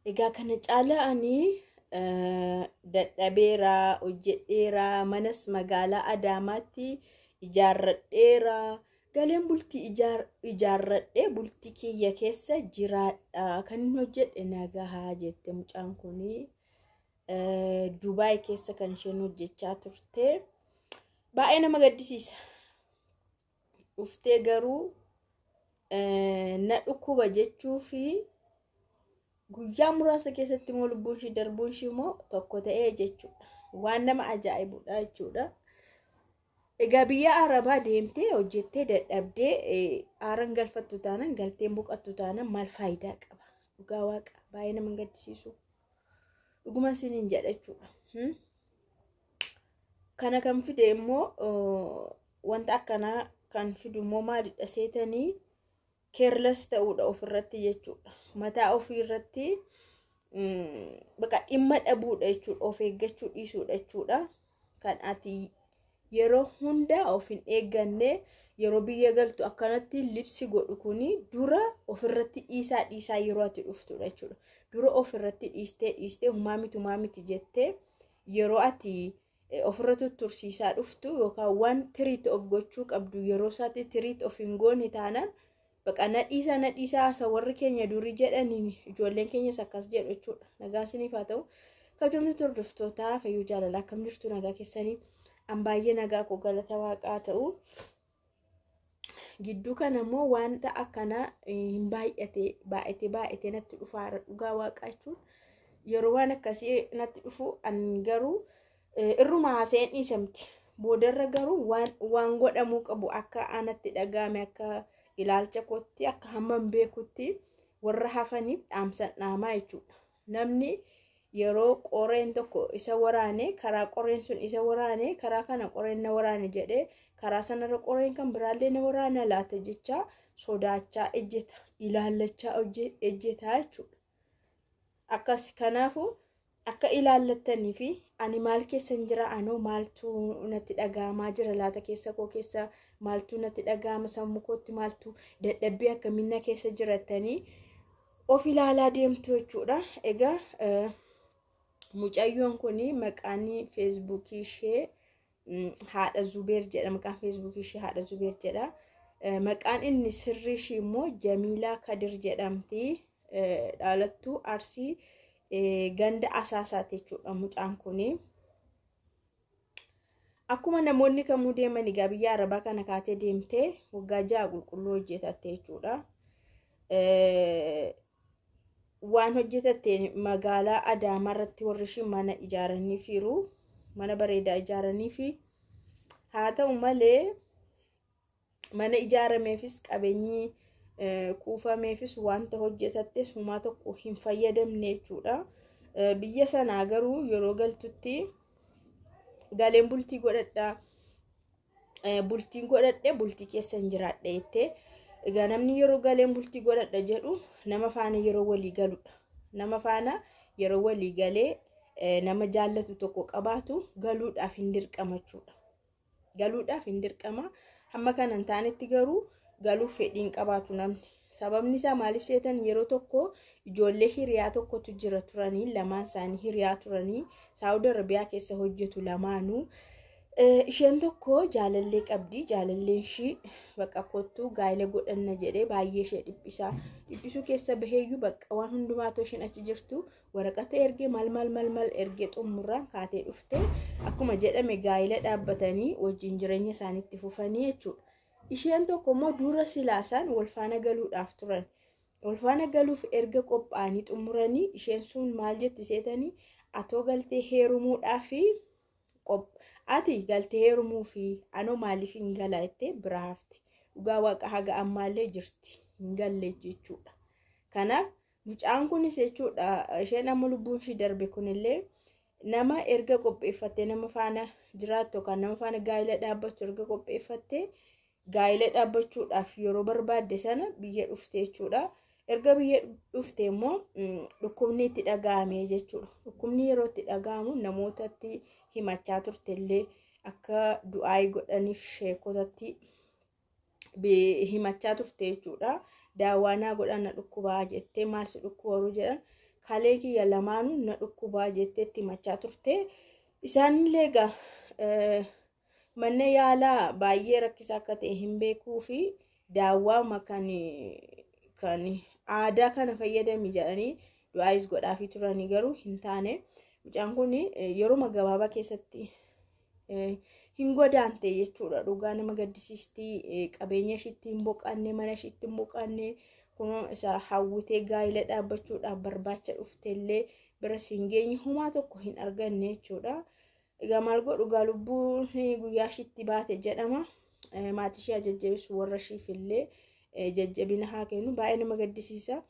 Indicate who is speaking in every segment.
Speaker 1: Egaa kana caalaa ani dadhabeera, hojjedheera, manas magaalaa Adaamaatti ijaarradheera. Galeen bultii ijaarradhee bultii kiyya keessa jiraadha. Kan inni hojjedhe nagahaa jette mucaan kun Dubaay keessa kan isheen hojjechaa turte. Baay'ee nama gaddisiisa. dhuftee garuu na dhukkuba jechuu fi guyyaa muraasa keessatti immoo lubbuun ishii darbuun ishii immoo tokko ta'ee jechuudha. Waan nama ajaa'ibudha jechuudha. Egaa biyya Arabaa deemtee hojjettee dadhabdee aaran galfattu taanan galteen boqattu taanan maal faayidaa qaba? Dhugaa waaqa baay'ee nama gaddisiisu. Dhuguma isiniin jedha jechuudha. kana kan fide immoo wanta akkanaa kan fidu immoo maalidha seetanii keerlas ta'uudha ofirratti jechuudha mataa ofii irratti baqa dhimma dhabuudha jechuudha of eeggachuu dhiisuudha jechuudha kan ati yeroo hundaa of hin eegganne yeroo biyya galtu akkanatti libsi godhu kuni dura ofirratti dhiisaa dhiisaa yeroo ati dhuftudha jechuudha dura ofirratti dhiistee dhiistee humaa miti humaa miti jettee Yeroo ati ofirra tuttursiisaa dhuftu yookaan waan tiriitti of gochuu qabdu yeroo isaatti tiriitti of hin goone taanaan baqa nadhiisaa nadhiisaa haasa warri keenya durii jedhaniin ijoolleen keenyas akkas jedhu jechuudha. Nagaa isiniif haa ta'u. Kabajamni turduftootaa fayyuu jaalalaa akkam jirtu nagaa keessanii an baay'ee nagaa koo galata waaqaa ta'u. gidduu kana immoo wanta akkanaa hin baay'ate baay'ate baay'ate natti dhufaara dhugaa waaqaa jechuun yeroo waan akkasii natti dhufu an garuu irruma haasa'een dhiisa miti boodarra garuu waan waan godhamuu qabu akka anatti dhaga'ame akka ilaalcha kootti akka hamman beekutti warra hafaniif dhaamsan dhaamaa jechuudha Namni yeroo qoreen tokko isa waraane karaa qoreen sun isa waraane karaa kana qoreen na waraane jedhee karaa sanarra qoreen kan biraallee na waraana laata jechaa sodaachaa ejjeta ilaallachaa ejjetaa jechuudha. Akkas kanaafuu akka ilaallattanii fi ani maal keessan jira anoo maaltu natti dhaga'amaa jira laata keessa koo keessa maaltu natti dhaga'ama sammuu kootti maaltu dadhabbii akkamiin na keessa jirattanii of ilaalaa deemtu jechuudha. Egaa mucayyoon kun maqaan feesbuukii ishee haadha Zubeer jedha. Maqaan feesbuukii ishee haadha Zubeer jedha. Maqaan inni sirrii ishii immoo Jamiilaa Kadir jedhamti. Dhaalattuu Arsii ganda Asaasaati jechuudha mucaan kun. akkuma namoonni kamuu deeman egaa biyya arabaa kana kaatee deemtee waggaa ja'a qulqulluu hojjetatte jechuudha. Waan hojjetatte magaalaa Adaamaa irratti warri ishii mana ijaaranii fiiru mana bareedaa ijaaranii fi haa ta'u malee mana ijaarameefis qabeenyi kuufameefis wanta hojjetattes humaa tokko hin fayyadamne jechuudha. Biyya sanaa garuu yeroo galtutti galeen bultii godhadha. Bultiin godhadhe bultii keessa hin jiraadha jettee. Egaa namni yeroo galeen bultii godhadha jedhu nama faana yeroo walii galudha. Nama faana yeroo walii galee nama jaallatu tokko qabaatu galuudhaaf hin dirqamachuudha. Galuudhaaf hin dirqama. Hamma kana hin taanetti garuu galuuf fedhii hin qabaatu namni. Sababni isaa maaliif seetan yeroo tokko ijoollee hiriyaa tokkotu jira turanii lamaan isaanii hiriyaa turanii Saawud Arabiyaa keessa hojjetu lamaanuu. Isheen tokko jaalallee qabdi jaalalleen ishii bakka kottuu gaa'ila godhanna jedhee baay'ee ishee dhiphisaa dhiphisuu keessa baheeyyuu bakka waan hundumaa too isheen achi jirtu waraqata ergee mal mal mal mal ergee xumurraan kaatee dhufte akkuma jedhame gaa'ila dhaabbatanii wajjin jireenya isaaniitti fufanii jechuudha. Isheen tokko immoo dura silaasaan walfaana galuudhaaf turan. Walfaana galuuf erga qophaa'anii xumuranii isheen sun maal jetti seetanii atoo galtee heerumuudhaa fi ati galtee heerumuu fi anoo maaliif hin gala jettee bira hafte. Dhugaa waaqa haga ammaallee jirti hin galle jechuudha. Kanaaf Mucaan kunis jechuudha isheen amma lubbuun ishii darbe kunillee nama erga qopheeffattee nama faana jiraattu yookaan nama faana gaa'ila dhaabbattu erga qopheeffattee gaa'ila dhaabbachuudhaaf yeroo barbaadde sana biyya dhufte jechuudha. Erga biyya dhufte immoo dhukkubni itti dhaga'ame jechuudha. Dhukkubni yeroo itti dhaga'amu namootatti himachaa turtellee akka du'aayii godhaniif sheekotatti bi- himachaa turte jechuudha. Daawwaanaa godhaan na dhukkubaa jettee maal si dhukkuba warri jedhan kalee kiyya lamaanuu na dhukkubaa jettee itti himachaa turte. Isaanillee egaa eh, manna yaalaa baay'ee rakkisaa akka ta'e hin beekuu fi daawwaama kan kan aadaa kana fayyadami jedhanii du'aayis godhaafii turanii garuu hin taane. Mucaan kun yeruma gabaabaa keessatti hin godaante jechuudha dhugaa nama gaddisiisti qabeenya ishiitti hin boqanne mana ishiitti hin boqanne kunoo isa hawwitee gaa'ila dhaabbachuudhaaf barbaacha dhufteellee bira siin geenye homaa tokko hin arganne jechuudha egaa maal godhu gaa lubbuun guyyaa ishiitti baate jedhama maatii ishee jajjabeessu warra ishiif illee jajjabina haa kennu baay'ee nama gaddisiisa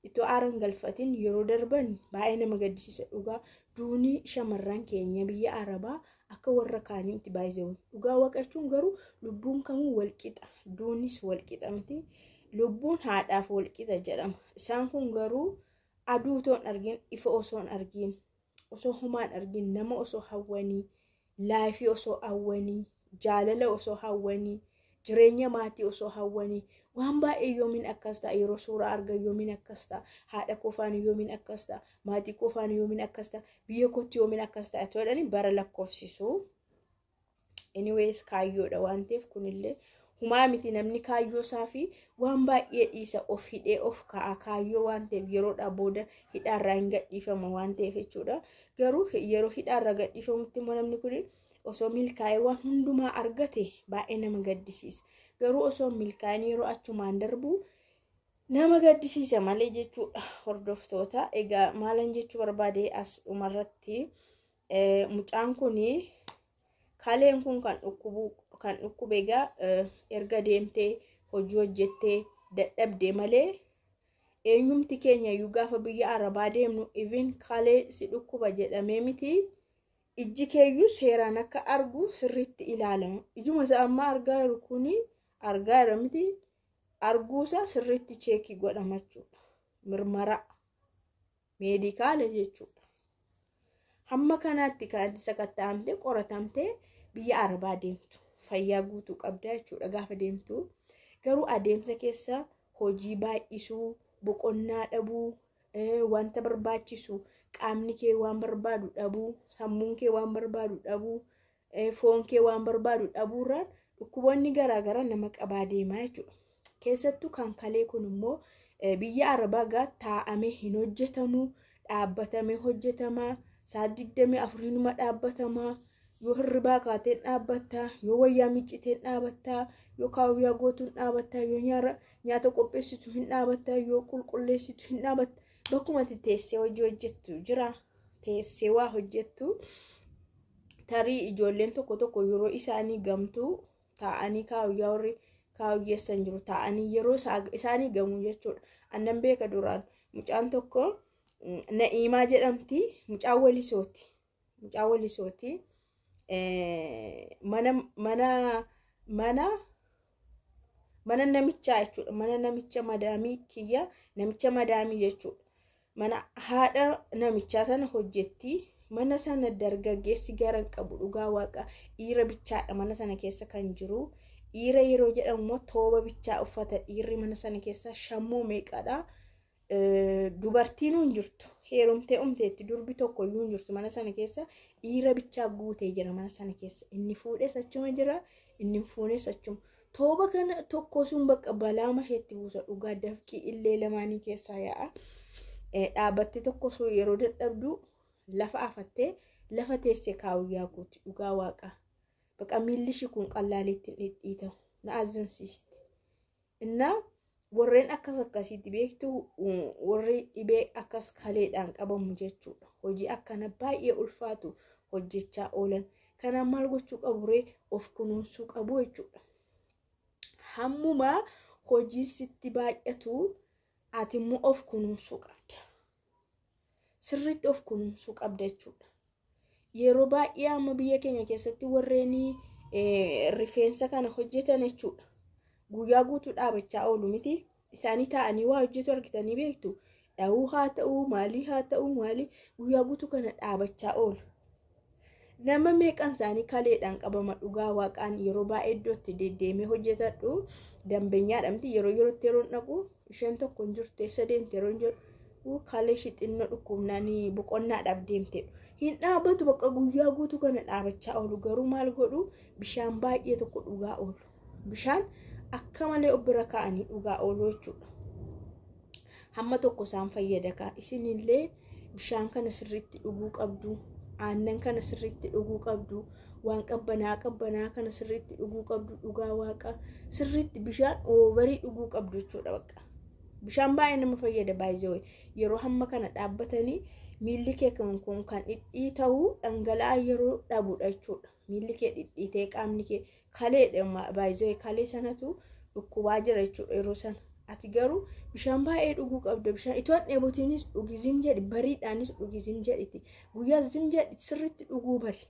Speaker 1: Itoo aara hin galfatin yeroo darban baay'ee nama gaddisiisa dhugaa duuni shamarran keenya biyya arabaa akka warra kaanii itti baay'isee dhugaa waqachuun garuu lubbuun kamuu walqixa duunis walqixa miti lubbuun haadhaaf walqixa jedhama isaan kun garuu aduu toon argin ifa osoon argiin osoo homaan argin nama osoo hawwanii laayifii osoo hawwanii jaalala osoo hawwanii jireenya maatii osoo hawwanii waan baay'ee yoomiin akkas ta'a yeroo suuraa argan yoomiin akkas ta'a haadha koofaan yoomiin akkas ta'a maatii koofaan yoomiin akkas ta'a biyya kootti yoomiin akkas ta'a jedhanii bara lakkoofsisu Anyways kaayyoodha waan ta'eef kunillee humaa miti namni kaayyoo isaa fi waan baay'ee dhiisa of hidhee of ka'a kaayyoo waan ta'eef yeroodhaa booda hidhaarraa hin gadhiifama waan ta'eef jechuudha. Garuu yeroo hidhaarraa gadhiifamutti immoo namni kun osoo milkaa'ee waan hundumaa argate baay'ee nama gaddisiisa. Garuu osoo milkaa'in yeroo achumaan darbu nama gaddisiisa malee jechuudha hordoftoota. Egaa maalan jechuu barbaade as dhumarratti. Mucaan kun kaleen kun kan dhukkubu kan dhukkube egaa erga deemtee hojii hojjettee dadhabde malee eenyumti keenya iyyuu gaafa biyya arabaa deemnu even kalee si dhukkuba jedhamee miti ijji keeyyuu seeraan akka argu sirriitti ilaalamu ijuma isaa amma argaa jiru kun argaa jira miti arguusaa sirriitti cheekii godhamachuudha mirmaraa meedikaala jechuudha. Hamma kanaatti kan ati sakatta'amtee qoratamtee biyya arabaa deemtu fayyaa guutuu qabdaa jechuudha gaafa deemtu garuu adeemsa keessa hojii baay'isuu boqonnaa dhabuu wanta barbaachisu qaamni kee waan barbaadu dhabuu sammuun kee waan barbaadu dhabuu foon kee waan barbaadu dhabuurraan dhukkuboonni garaagaraa nama qabaa deemaa jechuudha. Keessattuu kan kalee kun immoo biyya arabaa gaa taa'amee hin hojjetamu dhaabbatamee hojjetama saat digdamii afur hinuma dhaabbatama yoo hirribaa kaateen dhaabbatta yoo wayyaa micciteen dhaabatta yoo kaawwiyaa gootuun dhaabatta yoo nyaara nyaata qopheessitu hin dhaabatta yoo qulqulleessitu hin dhaabatta bakkumatti teessee hojii hojjettu jira teessee waa hojjettu tarii ijoolleen tokko tokko yeroo isaanii gamtuu taa'anii kaawuyyaa warri kaawuyyeessan jiru taa'anii yeroo isaanii gamu jechuudha annan beeka duraan mucaan tokko na'iimaa jedhamti mucaa walisooti mucaa walisooti mana mana mana mana namichaa jechuudha mana namicha madaamii kiyya namicha madaamii jechuudha mana haadha namichaa sana hojjettii mana sana dargaggeessi gara hin qabu dhugaa waaqa dhiira bichaadha mana sana keessa kan jiru dhiira yeroo jedhamu immoo tooba bichaa uffata dhiirri mana sana keessa shammoo meeqadha dubartiinuu hin jirtu heerumtee umteetti durbi tokko iyyuu hin jirtu mana sana keessa dhiira bichaa guutee jira mana sana keessa inni fuudhes achuma jira inni hin fuunes achuma tooba kana tokko sun bakka balaa masheetti buusa dhugaa dafqii illee lamaanii keessaa yaa'a dhaabattee tokko sun yeroo dadhabdu lafa afattee lafa teessee kaawuyyaa guuti dhugaa waaqaa baqa miilli ishii kun qallaaleetti hin dhidhiitamu na azzansiisti Innaa warreen akkas akkasiitti beektu warri dhibee akkas kaleedhaan qabamu jechuudha. Hojii akkana baay'ee ulfaatu hojjechaa oolan. Kanaan maal gochuu qabu ree of kunuunsuu qabu jechuudha. Hammuma hojiin sitti baay'atu ati immoo of kunuunsuu qabda. sirriitti of kunuunsuu qabda jechuudha. Yeroo baay'ee amma biyya keenya keessatti warreen rifeensa kana hojjetan jechuudha. Guyyaa guutuu dhaabachaa oolu miti. Isaanii taa'anii waa hojjetu argitanii beektu. Dhahuu haa ta'uu, maalii haa ta'uu, maalii guyyaa guutuu kana dhaabachaa oolu. nama meeqan isaanii kaleedhaan qabama dhugaa waaqaan yeroo baay'ee iddootti deddeemee hojjetadhu dambenyaadha miti yeroo yerootti yeroo dhaqu isheen tokko hin jirtu eessa deemte yeroo hin jedhu kalee ishii xinnoo dhukkubnaanii boqonnaadhaaf deemte hin dhaabatu bakka guyyaa guutuu kana dhaabachaa oolu garuu maal godhu bishaan baay'ee tokko dhugaa oolu bishaan akka malee of bira kaa'anii dhugaa oolu jechuudha. hamma tokko isaan fayyada kaa isinillee bishaan kana sirriitti dhuguu qabdu aannan kana sirriitti dhuguu qabdu waan qabbanaa qabbanaa kana sirriitti dhuguu qabdu dhugaa waaqa sirriitti bishaan oovarii dhuguu qabdu jechuudha bakka bishaan baay'ee nama fayyada baay'ee yeroo hamma kana dhaabbatanii miilli kee kan kun kan dhidhii ta'uu dhangala'aa yeroo dhabudha jechuudha miilli kee dhidhiitee qaamni kee kalee baay'ee kalee sanatu dhukkubaa jira jechuudha yeroo sana ati garuu bishaan baay'ee dhuguu qabda bishaan itoo hin dheebotiinis dhugi zim jedhi bariidhaanis dhugi zim jedhiti guyyaa zim jedhi sirriitti dhuguu bari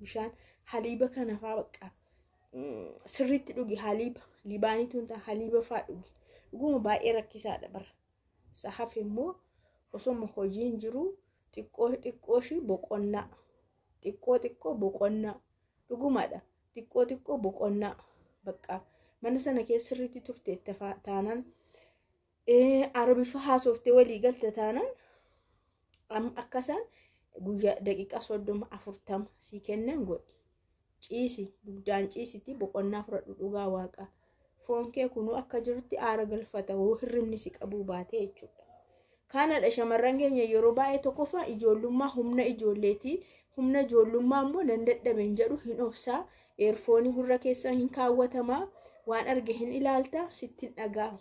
Speaker 1: bishaan haliiba kanafaa baqqaa sirriitti dhugi haliiba libaaniitu hin ta'a haliiba faa dhugi dhuguma baay'ee rakkisaadha bara isa hafe immoo osoma hojiin jiru xiqqoo xiqqoo ishii boqonnaa xiqqoo xiqqoo boqonnaa Dhugumadha. Xiqqoo xiqqoo boqonnaa bakka mana sana keessa sirriitti turteetta fa- taanaan eh, arabiffa haasoftee walii galte taanaan am- akka isaan guyyaa daqiiqaa soddoma afurtama sii kennan godhi. Ciisi dugdaan ciisiti boqonnaa fudhadhu dhugaa waaqa. Foon kee kunuu akka jirutti aara galfata hoo hirribni si qabuu baatee jechuudha. Kanadha shamarran keenya yeroo baay'ee tokkoffaa ijoollummaa humna ijoolleeti. Humna ijoollummaa immoo nan dadhabe hin jedhu hin obsaa. Eerfoonii gurra keessan hin kaawwatama. Waan arge hin ilaalta sitti hin dhaga'amu.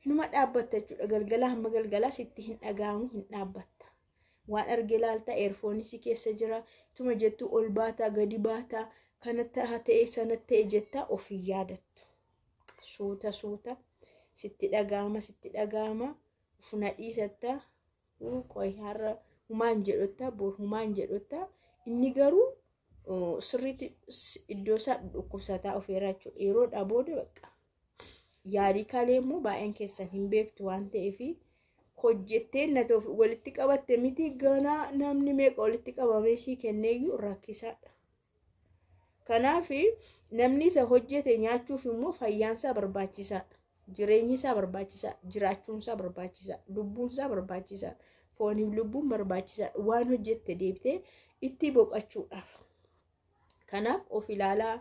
Speaker 1: Hinuma dhaabbatta jechuudha. Galgalaa hamma galgalaa sitti hin dhaga'amu hin dhaabbatta. waan arge laalta eerfoonisii keessa jira tuma jettu ol baata gadi baata kana ta'a ta'e sana ta'e jetta ofii yaadattu suuta suuta sitti dhaga'ama sitti dhaga'ama ufuna dhiisatta qoy har'a humaan jedhotta bor humaan jedhotta inni garuu sirriitti iddoo isaa dhukkubsataa ofeeraa jechuudha yeroodhaa booda bakka yaalii kalee immoo baay'een keessan hin beektu waan ta'eef hojjettee nata of- walitti qabatte miti ganaa namni meeqa walitti qabamee sii kenneeyyuu rakkisaadha. Kanaaf namni isa hojjete nyaachuuf immoo fayyaan isaa barbaachisaadha. Jireenyi isaa barbaachisaadha. Jiraachuun isaa barbaachisaadha. Lubbuun isaa barbaachisaadha. Fooniif lubbuun barbaachisaadha. Waan hojjette deebitee itti boqachuudhaaf. kanaaf of ilaalaa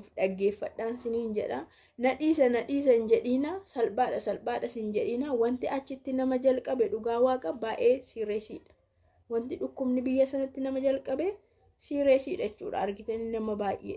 Speaker 1: of dhaggeeffadhaan siniin jedha na dhiisa na dhiisa hin jedhiina salphaadha salphaadha sin jedhiina wanti achitti nama jalqabe dhugaa waaqa baay'ee siireesiidha wanti dhukkubni biyya sanatti nama jalqabe siireesiidha jechuudha argitanii nama baay'ee